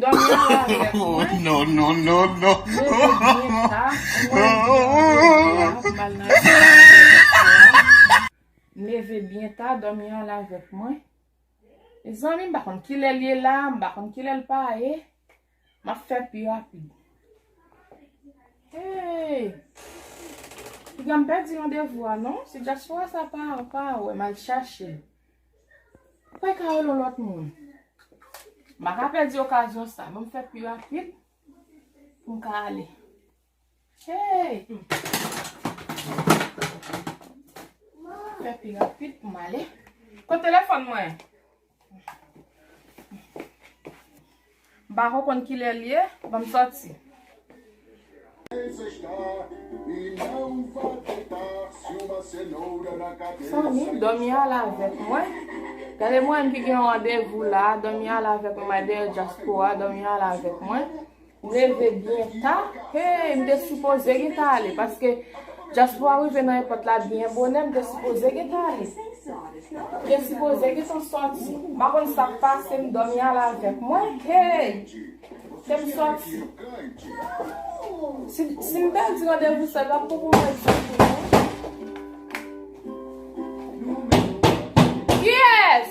Dòmi anlè avèk mwen. Non non non non. Leve byen ta pou mwen di yon gwo bwa pou m al nan lekòl ankò josua. M leve byen ta dòmi anlè avèk mwen. Mezanmi m pa konn kilè l ye la m pa konn kilè l pa ye. M ap fè pi rapid. Hey! Piga m pèdi yon devwa non. Se josua sa pa wè m al chache l. Mwen ka rele yon lòt moun. M pa ka pèdi okazyon sa. Mwen fè pi rapid pou m ka ale. Hey! Mwen fè pi rapid pou m ale. Kote telefòn mwen? M pako konn kilè l ye, ban m sòti. Mezanmi, Dòmi al avèk mwen. Gade mwen menm ki gen yon randevou la a, Dòmi al avèk mwen, my dear diaspora, Dòmi al avèk mwen. M leve byen ta, hey, m te sipoze gentan ale paske. Dyaspora rive nan èpòt la byen bonè m te sipoze gentan ale m te sipoze gentan sòti m pa konn sak pase m dòmi al avèk mwen hey ke m sòti si m pèdi randevou sa ta pou pou mwen di pou mwen Kiyès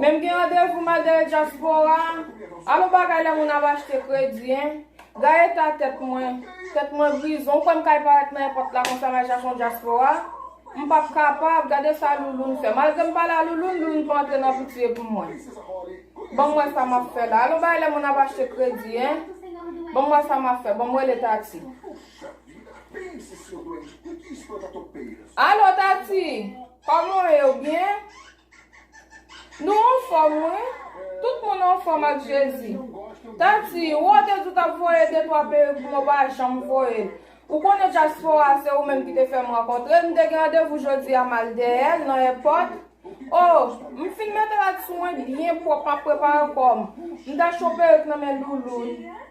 Menm gen randevou madè dyaspora Alon bagay lè moun ap achte kredi hein Gay eta tèt mwen Tèt mwen grize ou kwè m kay parèt nan èpòt la konsa nan japon dyaspora M pap kapab gade sa Louloun fè Malgre m pale a Louloun Louloun pa antre nan pitye pou mwen Banm wè sa map fè la Alon bagay lè moun ap achte kredi hein Banm wè sa map fè Banm rele Tati Alo Tati Koman w ye ou byen? Nou anfòm wi, tout moun anfòm ak Jezi. Tati, ou a te di ou t ap voye de twa perik pou mwen ou pa janm voye l. Ou konnen dyaspora se ou menm ki te fè m rankontre l, m te gen randevou jodi a m al dèyè l nan èpòt. O, m fin mete l ak sou mwen byen pwòp m ap prepare kò m. M ta cho perik nan men Louloun.